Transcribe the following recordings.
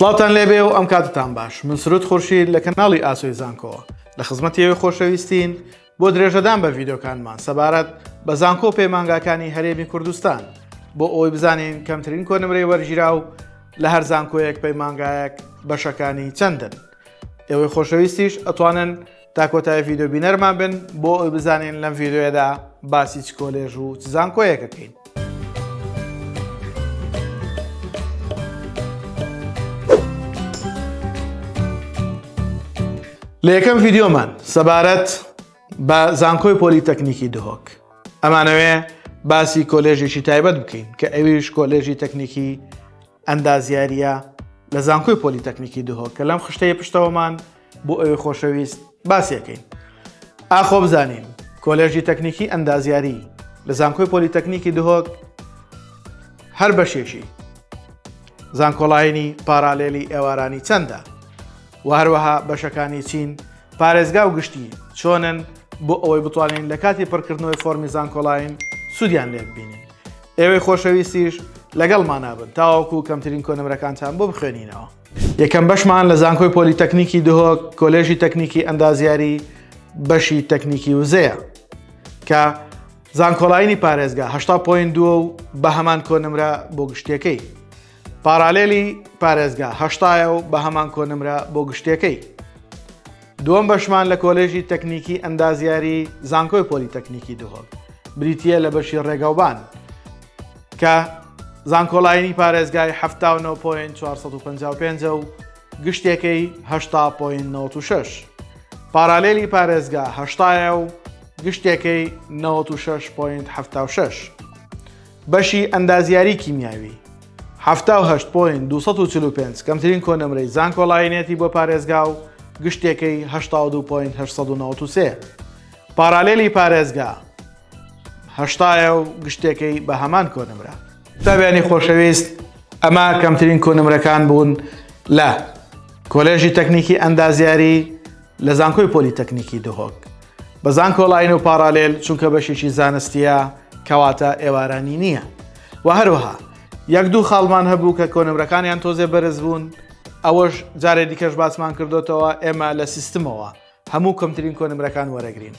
سڵاوتان لێبێ و ئەم کاتتان باش من سرود خورشید لە کەناڵی ئاسۆی زانکۆوە لە خزمەتی ئەوی خۆشەویستین بۆ درێژەدان بە ڤیدۆکانمان سەبارەت بە زانکۆ پەیمانگاکانی هەرێمی کوردستان بۆ ئەوی بزانین کەمترین کۆنمرەی وەرگیرا و لە هەر زانکۆیەک پەیمانگایەک بەشەکانی چەندن ئێوەی خۆشەویستیش ئەتوانن تا کۆتای ڤیددیو بینەرمان بن بۆ ئەوی بزانین لەم ڤیددیوەدا باسی چ کۆلێژ و چ زانکۆیەکەکەین. لە یەکەم ڤیددیۆمان سەبارەت بە زانکۆی پۆلیتەکنیکی دهۆک ئەمانەوێ باسی کۆلێژێکی تایبەت بکەین کە ئەویش کۆلێژی تەکنیکی ئەندازیاریە لە زانکۆی پۆلیتەکنیکی دهۆک کە لەم خشتەیە پشتەوەمان بۆ ئەوی خۆشەویست باسیەکەین ئاخۆ بزانین کۆلێژی تەکنیکی ئەندازیاری لە زانکۆی پۆلیتەکنیکی دهۆک هەر بەشێکی زانکۆڵایینی پارالێلی ئێوارانی چەندە و هەروەها بەشەکانی چین پارێزگا و گشتی چۆنن بۆ ئەوەی بتوانین لە کاتی پڕکردنەوەی فۆرمی زانکۆڵین سوودیان لێ ببینین ئێوەی خۆشەویستیش لەگەڵ مانابن تاوەکو کەمترین کۆنمرەکانتان بۆ بخوێنینەوە یەکەم بەشمان لە زانکۆی پۆلیتەکنیکی دهۆک کۆلێژی تەکنیکی ئەندازیاری بەشی تەکنیکی وزەیە کە زانکۆڵینی پارێزگا هشتا پوین دووە و بە هەمان کۆنمرە بۆ گشتەکەی پارالێلی پارێزگا هەشتایە و بە هەمان کۆنمرە بۆ گشتەکەی دووەم بەشمان لە کۆلێژی تەکنیکی ئەندازیاری زانکۆی پۆلیتەکنیکی دهۆک بریتە لە بەشی ڕێگەوبان کە زانکۆلاینی پارێزگای 1945 و گشتێکەی 1996 پارالێلی پارێزگا هەشتایە و گشتێکەی 96.76 بەشی ئەندازیاری کیمیاوی حەفتا و هەشت پۆینت دوو سەد و چل و پێنج کەمترین کۆنەمرەی زانکۆلاینێتی بۆ پارێزگا و گشتێکەی هەشتا و دوو پۆینت هەشت سەد و نەوەد و سێ پارالیلی پارێزگا هەشتا یە و گشتێکەی بە هەمان کۆنەمرە. قوتابیانی خۆشەویست، ئەمە کەمترین کۆنمرەکان بوون لە، کۆلێژی تەکنیکی ئەندازیاری، لە زانکۆی پۆلیتەکنیکی دهۆک، بە زانکۆلاین و پاڕالێل چونکە بەشێکی زانستیە کەواتە ئێوارانی نییە و هەروەها یەک دوو خاڵمان هەبوو کە کۆنمرەکانیان تۆزێ بەرز بوون ئەوەش جارێ دیکەش باسمان کردوتەوە ئێمە لە سیستمەوە هەموو کەمترین کۆنمرەکان وەرەگرین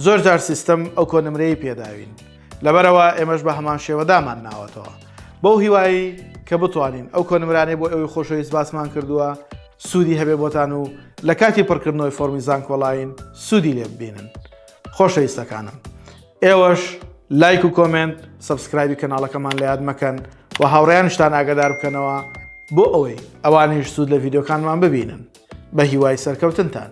زۆر جار سیستم ئەو کۆنمرەی پێداوین لەبەرەوە ئێمەش بە هەمان شێوەدامان ناوەتەوە بەو هیوایی کە بتوانین ئەو کۆنمرانەی بۆ ئەوی خۆشەویست باسمان کردووە سوودی هەبێ بۆتان و لە کاتی پڕکردنەوەی فۆرمی زانکۆڵاین سوودی لێ ببینن خۆشەویستەکانم ئێوەش لایک و کۆمنت سبسکرایبی کەناڵەکەمان لە یاد مەکەن و هاوڕیانشتان ئاگادار بکەنەوە بۆ ئەوەی ئەوانیش سوود لە ڤیددیوکانمان ببینن بە هیوای سەرکەوتنتان